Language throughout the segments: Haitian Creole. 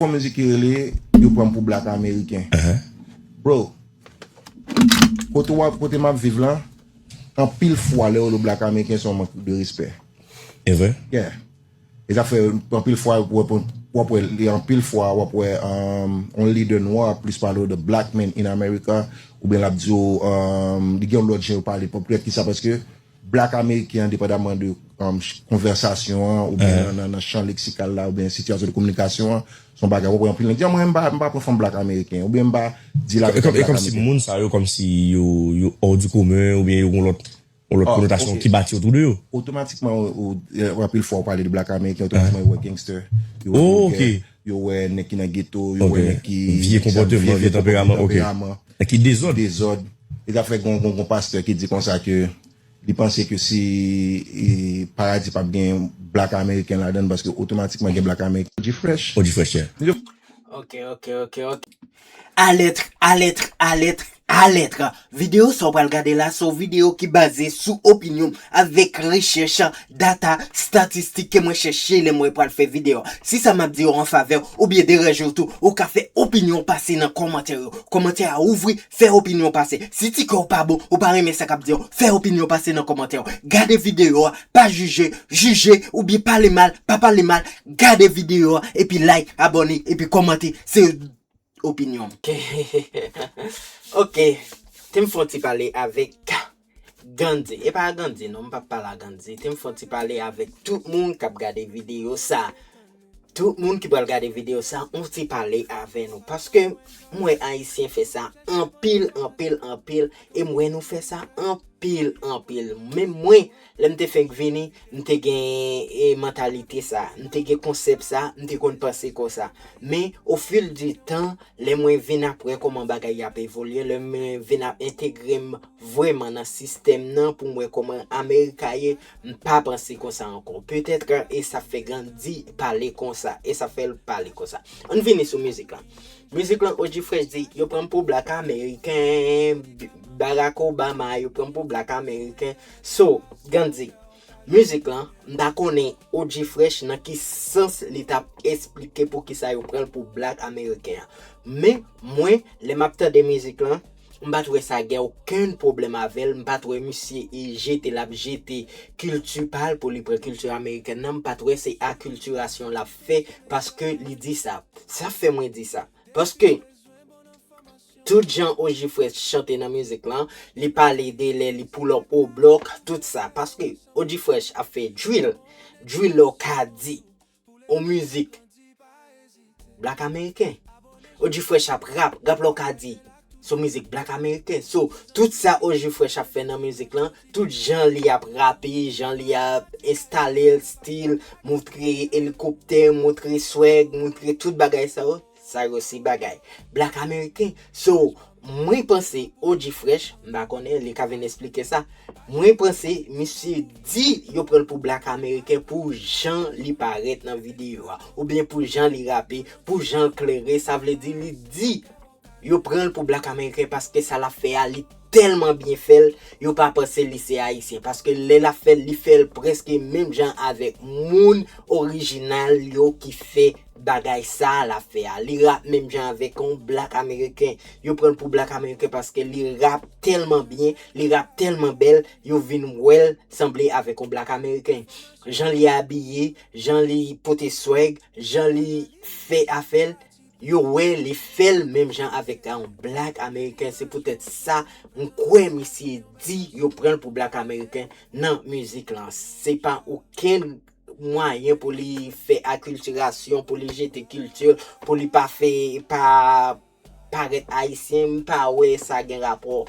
Kon mizik ki rele yo pranm pou black ameriken bro kote wap kote map viv la anpil fwa lè yo lo black ameriken son mank de respè evre yeah e zafè anpil fwa wap wè li anpil fwa wap wè on lidè nwa ap plis pale de black men in amerika ou byen lap diyo li gen lòt jen yo pale pòp kisa paske Black Ameriken an depandaman de konvèsasyon an ou byen nan chan leksikal la ou byen sitiyasyon de kominikasyon an son bagay wap wè anpil nèg di a mwen m pa pran fanm Black Ameriken ou byen m pa dil avèk yon Black Ameriken. E kòmsi moun sa yo kòmsi yo hors du commun ou byen yo gon lòt konotasyon ki bati otou de yo? Otomatikman anpil fwa ou pale de Black Ameriken otomatikman yo wè gangster, yo wè vòlgè, Yo wè nèg ki nan geto, yo wè nèg ki vye konpòteman, vye tanperaman, ok, nèg ki dezòd, yo ta fè gon gon gon pastè ki di konsa ke li panse ke si paradi pap gen black ameriken ladan paske otomatikman gen black ameriken. Odifresh. Odifresh yeah. Ok ok ok ok. Alètre, alètre, alètre, alètre! Videyo sa w pral gade la se yon videyo ki baze sou opinyon m avèk rechèch, data, statistik ke mwen chèche lè mwen pral fè videyo a. Si sa m ap di yo anfavè w oubyen deranje w tou, ou ka fè opinyon w pase nan kòmantè yo. Kòmantè a ouvri, fè opinyon w pase. Si ti kè w pa bon, ou pa renmen sa k ap di yo, fè opinyon w pase nan kòmantè yo. Gade videyo a, pa jije, jije, oubyen pale mal, pa pale mal, Gade video a epi like abone epi komante se opinyon m ok tem fon ti pale avek Gandhi epa a Gandhi non m pap pale a Gandhi tem fon ti pale avek tout moun kap gade video sa tout moun ki pral gade video sa on ti pale avè nou paske m wè ayisyen fè sa anpil anpil anpil e m wè nou fè sa anpil anpil menm mwen Lè m te fenk vini, m te gen mantalite sa, m te gen konsèp sa, m te konn panse konsa. Men, o fil di tan, lè mwen vin ap wè kòman bagay y ap evolye, lè mwen vin ap entegre m vrèman nan sistèm nan pou m wè kòman America ye, m pa panse konsa ankò. Petèt e sa fè Gandhi pale konsa, e sa fè l pale konsa. Ann vini sou mizik lan. Mizik lan O-G Fresh di, Yo pran m pou blak ameriken, Barack Obama, yo pran m pou blak ameriken. So, Gandhi, music lan, m ta konnen OG Fresh nan ki sans li tap esplike poukisa yo pranl pou black ameriken an. Men, mwen, lè map tande music lan, m pat wè sa gen okenn pwoblèm avèl, m pat wè misye e jete lap jete kilti pal pou li pran kilti amerikèn nan, m pat wè se aculturation lap fè paske li di sa. Sa fè mwen di sa, paske, Tout jan Oji Fresh chante nan mizik lan, li pale de lè li pull up au block, tout sa. Paske Oji Fresh ap fè drill. Drill la w ka di yon mizik Black Ameriken. Oji Fresh ap rap, rap la w ka di se yon mizik Black Ameriken. So, tout sa Oji Fresh ap fè nan mizik lan, tout jan li ap rape, jan li ap enstale l, stil, moutre elikoptè, moutre swag, moutre tout bagay sa yo, Sa yo se bagay black ameriken so mwen panse OG fresh m pa konnen li ka vin esplike sa mwen panse misye di yo pranl pou black ameriken pou jan li parèt nan video a ou byen pou jan li rape pou janl klere sa vle di li di yo pranl pou black ameriken paske sa lap fè a li tèlman byen fèl yo pa panse li se ayisyen paske lè lap fèl li fèl prèske menm jan avèk moun orijinal yo ki fè bagay sa lap fè a li rap menm jan avèk yon black ameriken yo pranl pou black ameriken paske li rap tèlman byen li rap tèlman bèl yo vin wèl sanble avèk yon black ameriken jan li abiye jan li pote swag jan li fè afèl Yo wè li fèl menm jan avèk yon black american se poutèt sa m kwè misye di yo pranl pou black american nan mizik lan se pa okenn mwayen pou li fè akiltirasyon pou li jete kilti l pou li pa fè pa parèt ayisyen m pa wè sa gen rapò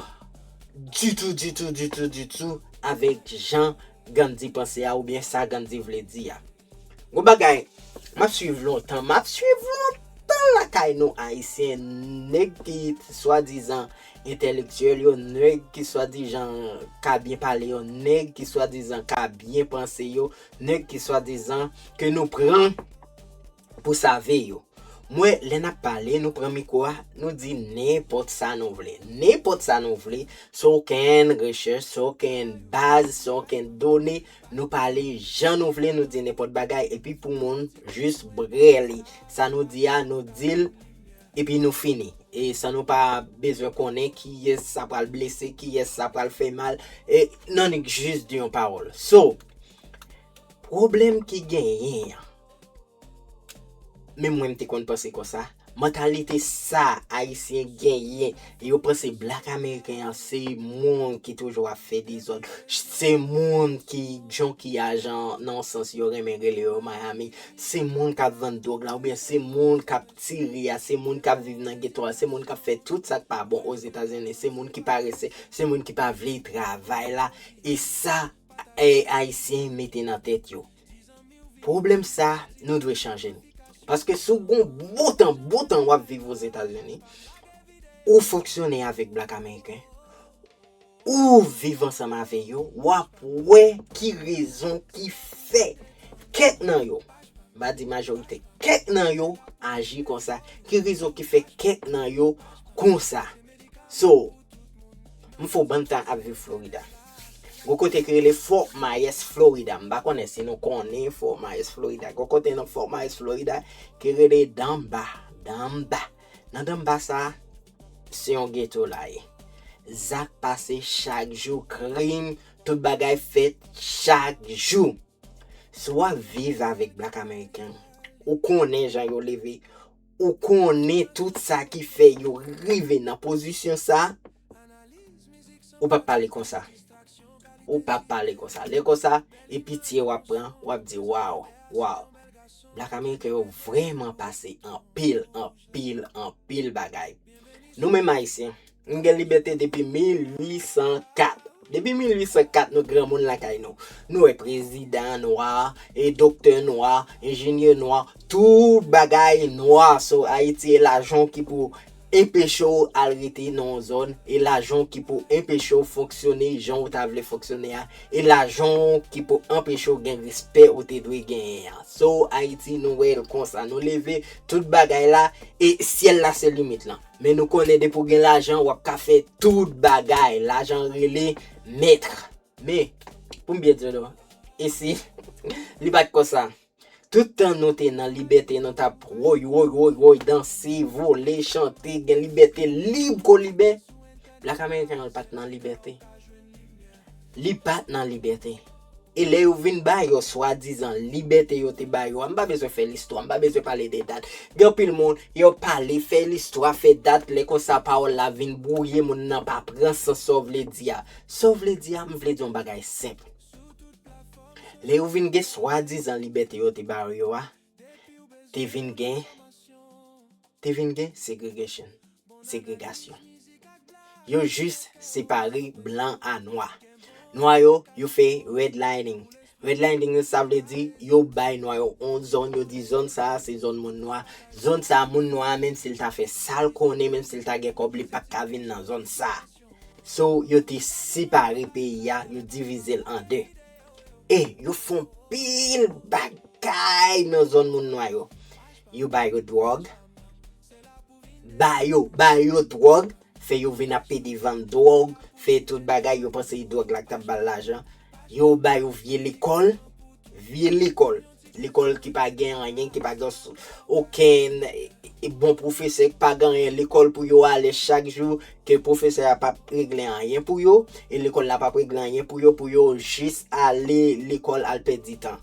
ditou ditou ditou ditou avèk jan Gandhi panse a oubyen sa Gandhi vle di a. Bon bagay Map swiv lontan Map swiv lontan lakay nou ayisyen nèg ki swadizan entèlektyèl yo nèg ki swadijan ka byen pale yo nèg ki swadizan ka byen panse yo nèg ki swadizan ke nou pran pou save yo mwen lè nap pale nou pran mikwo a nou di nenpòt sa nou vle nenpòt sa nou vle san okenn rechèch san okenn baz san okenn done Nou pale jan nou vle nou di nenpòt bagay epi pou moun jis brele sa nou di a nou dil epi nou fini e san nou pa bezwen konnen kiyès sa pral blese kiyès sa pral fè mal e nan nik jis di yon pawòl so pwoblèm ki genyen an. Menm mwen m te konn panse konsa. Mantalite sa ayisyen genyen yo panse black ameriken an se moun ki toujou ap fè dezòd se moun ki junkie ajan nan yon sans yo renmen rele yo miami se moun kap vann dwòg la oubyen se moun kap tire a se moun kap viv nan geto a se moun kap fè tout sak pa bon ozetazini se moun ki parese se moun ki pa vle travay la e sa ayisyen mete nan tèt yo. Pwoblèm sa nou dwe chanje l. Paske si w gen yon bon tan, bon tan w ap viv Ozetazini, ou fonksyone avèk blak ameriken, ou viv ansanm avè yo, w ap wè ki rezon ki fè kèk nan yo, m pa di majorite, kèk nan yo aji konsa, ki rezon ki fè kèk nan yo konsa. So, m fo bann tan ap viv Florida. Gwo kote ki rele Fort Myers Florida, m pa konnen si nou konnen Fort Myers Florida. Gwo kote nan Fort Myers Florida ki rele Danba, Danba. Nan Danba sa, se yon ghetto la ye. Zak pase chak jou, krim, tout bagay fèt chak jou. Si w ap viv avèk Black American, ou konnen jan yo leve. Ou konnen tout sa ki fè yo rive nan pozisyon sa, ou pap pale konsa. Ou pap pale konsa. Lè konsa, e pitye wap pran, wap di waw, waw. Black American yo vreman pase anpil, anpil, anpil bagay. Nou menm Ayisyen, Nou gen libète depi 1804. Depi 1804 nou granmoun lakay nou. Nou wè prezidan nwa, e doktè nwa, enjenyè nwa, tout bagay nwa. So Ayiti e lajan ki pou enpeche w al rete nan yon zòn, e lajan ki pou enpeche w fonksyone jan ou ta vle fonksyone a, e lajan ki pou anpeche w gen respè ou te dwe genyen an. So Ayiti nou wè l konsa. Nou leve tout bagay la e syèl la se limit lan. Men nou konnen depi w gen lajan wap ka fè tout bagay. Lajan rele maître. Men, pou m byen di w non, e si li pa t konsa? Tout tan nou te nan libète nou t ap woy woy woy woy, danse, vole, chante, gen libète lib kou liben. Black American pa t nan libète. Li pa t nan libète. E lè yo vin ba yo swadizan libète yo te ba yo a, m pa bezwen fè listwa, m pa bezwen pale de dat. Gen anpil moun, yo pale, fè listwa, fè dat, lè konsa pawòl la vin bwouye, moun nan pa pran sans sa w vle di a. Sa w vle di a, m vle di w yon bagay senp. Lè yo vin gen swadizan libète yo te ba yo a, Te vin gen Te vin gen segregation, segregasyon. Yo jis separe blan a nwa. Nwa yo, yo fè redlining. Redlining sa vle di yo bay nwa yo yon zòn, yo di zòn sa a se zòn moun nwa. Zòn sa a moun nwa a menm si l ta fè sa l konnen, menm si l ta gen kòb li pa t ka vin nan zòn sa a. So yo te separe peyi a, yo divize l an de. E yo fè anpil bagay nan zòn moun nwa yo. Yo ba yo dwòg, ba yo, ba yo dwòg, fè yo vin ap pede vann dwòg, fè tout bagay, yo panse dwòg la k t ap ba l lajan. Yo ba yo vye lekòl, vye lekòl. Lekòl ki pa gen anyen, ki pa gen okenn bon pwofesè, ki pa gen anyen, lekòl pou yo ale chak jou, ke pwofesè a pap regle anyen pou yo, e lekòl la pap regle anyen pou yo, pou yo jis ale lekòl al pèdi tan.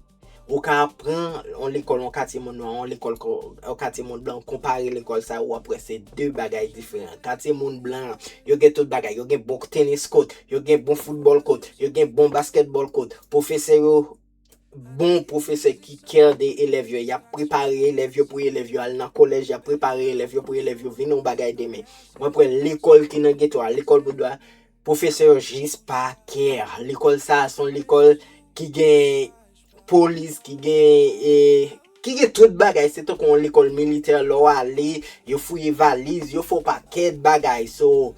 Ou ka pran yon lekòl yon katye moun nwa, yon lekòl yon katye moun blan, konpare lekòl sa yo, wap wè se 2 bagay diferan. Katye moun blan, yo gen tout bagay, yo gen bon tenis kot, yo gen bon foutbòl kot, yo gen bon baskètbòl kot, pwofesè yo. bon pwofesè ki kè de elèv yo, y ap prepare elèv yo pou elèv yo al nan kolèj, y ap prepare elèv yo pou elèv yo vin yon bagay demen. Mwen pran lekòl ki nan geto a, lekòl Boudwa, pwofesè yo jis pa kè. Lekòl sa a son lekòl ki gen polis, ki gen e, tout bagay, se tankou yon lekòl militè lè w ale, yo fouye valiz, yo fè w pakèt bagay. So,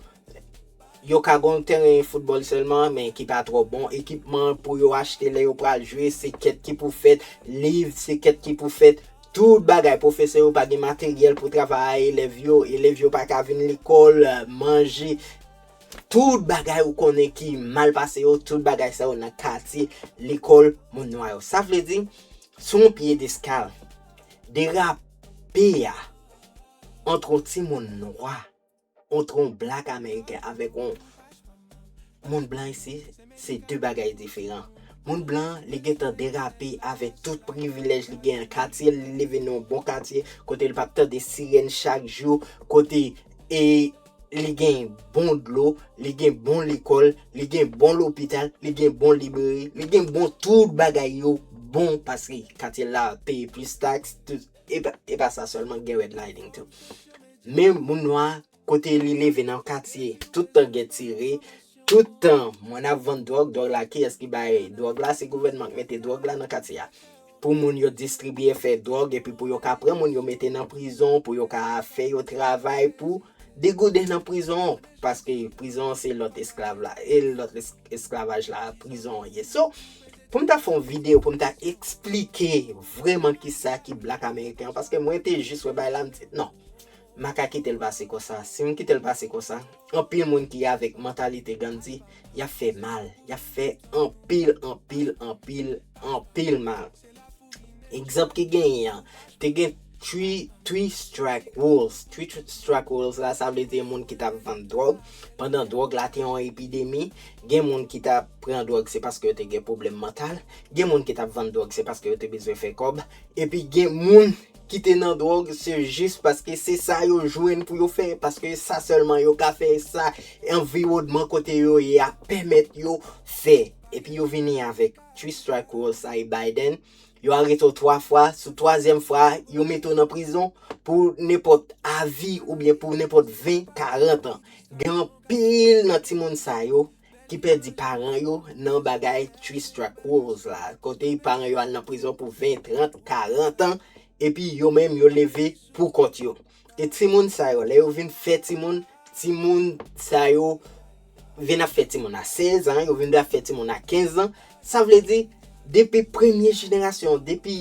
Yo ka gon teren foutbòl sèlman men ki pa twò bon, ekipman pou yo achte lè yo pral jwe se kèt ki pou fèt, liv se kèt ki pou fèt, tout bagay, pwofesè yo pa gen materyèl pou travay a elèv yo, elèv yo pa ka vin lekòl, manje, tout bagay ou konnen ki mal pase yo, tout bagay sa yo nan katye lekòl moun nwa yo. Sa vle di, sou yon pyedeskal, derape a ant yon timoun nwa Antre yon black ameriken avèk yon moun blan isi, se 2 bagay diferan. Moun blan an, li gentan derape avèk tout privilèj li gen an, katye l, li leve nan yon bon katye, kote li pa p tande sirèn chak jou, kote e li gen bon dlo, li gen bon lekòl, li gen bon lopital, li gen bon libreri, li gen bon tout bagay yo bon paske katye l la peye plis taks, tout. E pa sa sèlman gen red lighting tou. Men moun nwa kote li leve nan katye tout tan gen tire, tout tan moun ap vann dwòg, dwòg la kiyès ki bay dwòg la, se gouvènman k mete dwòg la nan katye a. Pou moun yo distribye fè dwòg epi pou yo ka pran moun yo mete nan prizon, pou yo ka fè yo travay pou degouden nan prizon paske prizon se lòt esklav la. esklavaj la prizon an ye so poum ta fon video poum ta esplike vreman kisa ki black american an paske mwen te jis wè bagay la m di non m paka kitel pase konsa sim kitel pase konsa anpil moun ki avek mantalite gandi yap fè mal yap fè anpil anpil anpil anpil mal. Egzanp ki genyen an, te gen Three Strike Rules. Three Strike Rules la, sa vle di moun ki tap vann dwòg. Pandan dwòg la te yon epidemi, gen moun ki tap pran dwòg se paske yo te gen pwoblèm mantal, gen moun ki tap vann dwòg se paske yo te bezwen fè kòb, epi gen moun ki te nan dwòg se jis paske se sa yo jwenn pou yo fè, paske sa sèlman yo ka fè, sa anviwònman kote yo ye a pèmèt yo fè, epi yo vini avèk. Three strike rule sa e Biden, yo arete w 3 fwa, sou twazyèm fwa a, yo mete w nan prizon pou nenpòt a vi oubyen pou nenpòt 20, 40 an. Gen anpil nan timoun sa yo ki pèdi paran yo nan bagay three strike rules la, kote paran yo al nan prizon pou 20, 30, 40 an, epi yo menm yo leve pou kont yo. E timoun sa yo, lè yo vin fè timoun, timoun sa yo vin ap fè timoun a 16 an, yo vin ap fè timoun a 15 an, sa vle di, depi premye jenerasyon, depi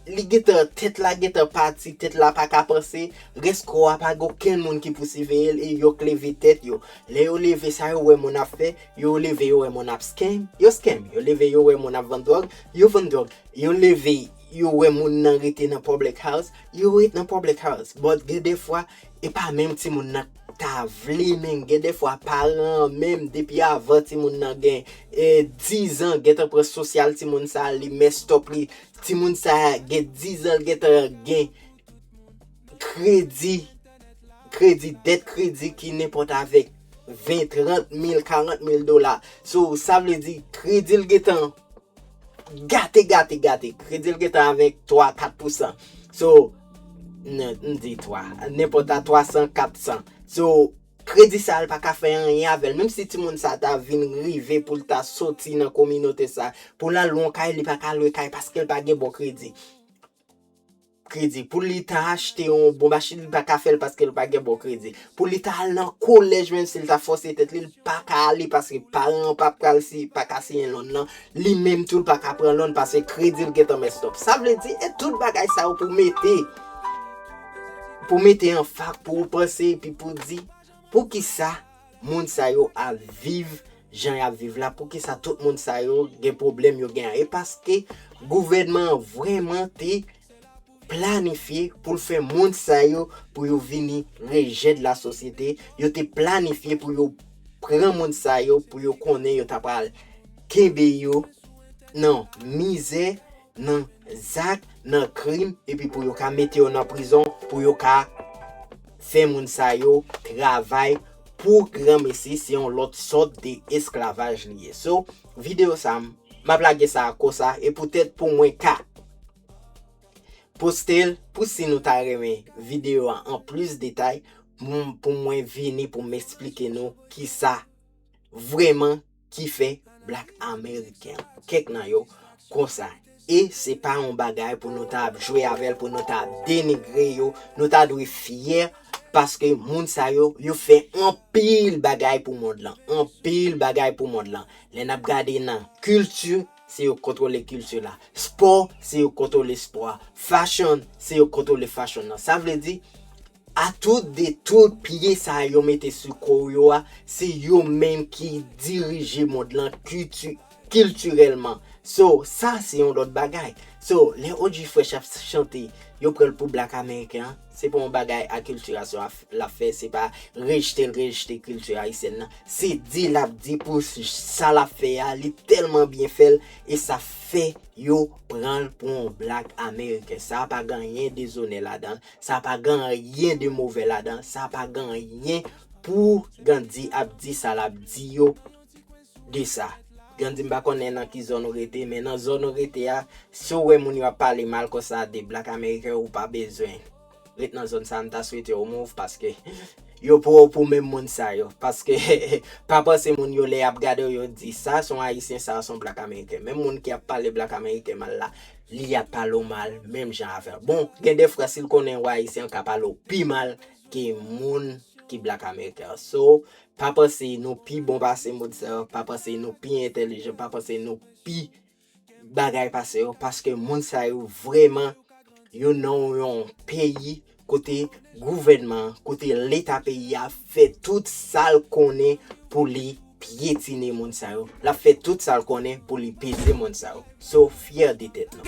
li gen tan, tèt la gen tan pati, tèt la pa ka panse, rès kò a pa gen okenn moun ki pou siveye l e yo k leve tèt yo. Lè yo leve, sa yo wè moun ap fè, yo leve yo wè moun ap scam, yo scam. Yo leve yo wè moun ap vann dwòg, yo vann dwòg. Yo leve Yo wè moun nan rete nan public house, yo ret nan public house. But gen de fwa, e pa menm ti moun nan ta vle menm. Gen de fwa paran an menm depi avan ti moun nan gen 10 an gentan pran sosyal ti moun sa, li messed up li. Ti moun sa gen 10 an li gentan gen kredi, kredi, dèt kredi ki nenpòt avèk 20, 30 mil, 40 mil dola. So sa vle di kredi li gentan Gate gate gate Kredi l gentan avèk 3, 4 pousan So M di 3 Nenpòt la 300, 400 So Kredi sa l pa ka fè anyen avè l Menm si timoun sa ta vin rive pou l ta soti nan kominote sa Pou l al lwen kay li pa ka lwe kay paske l pa gen bon kredi. kredi, pou li ta achte yon bon machin li paka fèl paske li pa gen bon kredi, pou li ta al nan kolèj menm si li ta fòse tèt li, li paka ale paske paran an pa pral si, paka siyen lòn nan, li menm tou li paka pran lòn paske kredil gentan mèt stòp. Sa vle di e tout bagay sa yo pou mete, pou mete an fak pou ou panse epi pou di, poukisa? Moun sa yo al viv jan yap viv la poukisa tout moun sa yo gen pwoblèm yo gen an e paske gouvènman an vrèman te planifye pou l fè moun sa yo pou yo vini rejè de la sosyete yo te planifye pou yo pran moun sa yo pou yo konnen yo ta pral kenbe yo nan mizè nan zak, nan krim epi pou yo ka mete yo nan prizon pou yo ka fè moun sa yo travay pou granmesi se yon lòt sòt de esklavaj li ye so video sa map lage sa kosa e pou tèt pou mwen ka postel pou si nou ta renmen video a an plis detay pou mwen vini pou m esplike nou kisa vreman ki fè black American kèk nan yo konsa e se pa yon bagay pou nou ta ap jwe avèl pou nou ta ap denigre yo nou ta dwe fyè paske moun sa yo yo fè anpil bagay pou mond lan anpil bagay pou mond lan lè nap gade nan kilti se yo kontwole kilti la spò se yo kontwole spò a fashion se yo kontwole fashion nan sa vle di A tout de tout pye sa yo mete sou ko w yo a, se yo menm ki dirije mond lan kilti, kiltirèlman. So, sa se yon lòt bagay. So, lè OG Fresh ap chante, yo pran l pou Black American an, se pa yon bagay akiltirasyon a, l ap fè, se pa rejte l rejte kilti ayisyèn nan. Se di l ap di pou sa l ap fè a, li tèlman byen fè l, e sa fè yo pran l pou yon Black American. Sa pa gen anyen dezonè ladan l. Sa pa gen anyen de move ladan, sa pa gen anyen pou Gandhi ap di sa lap di yo de sa. Gandhi m pa konnen nan ki zòn ou rete, men nan zòn ou rete a, si w wè moun yo ap pale mal konsa de Black American ou pa bezwen ret nan zòn sa a, m ta swete w move paske yo pran w pou menm moun sa yo. Paske pa panse moun yo lè yap gade w yo di sa son Ayisyen sa son Black American. Menm moun ki ap pale Black American mal la, Li ap pale w mal menm jan avè w. Bon, gen de fwa si l konnen ou Ayisyen l ka pale w pi mal ke moun ki black american an. So, pa panse nou pi bon pase moun sa yo, pa panse nou pi entelijan, pa panse nou pi bagay pase yo paske moun sa yo vrèman yo nan yon peyi Kote gouvènman an, kote leta peyi a fè tout sa l konnen pou li pyetine moun sa yo, l ap fè tout sa l konnen pou li peze moun sa yo. So fyè de tèt nou.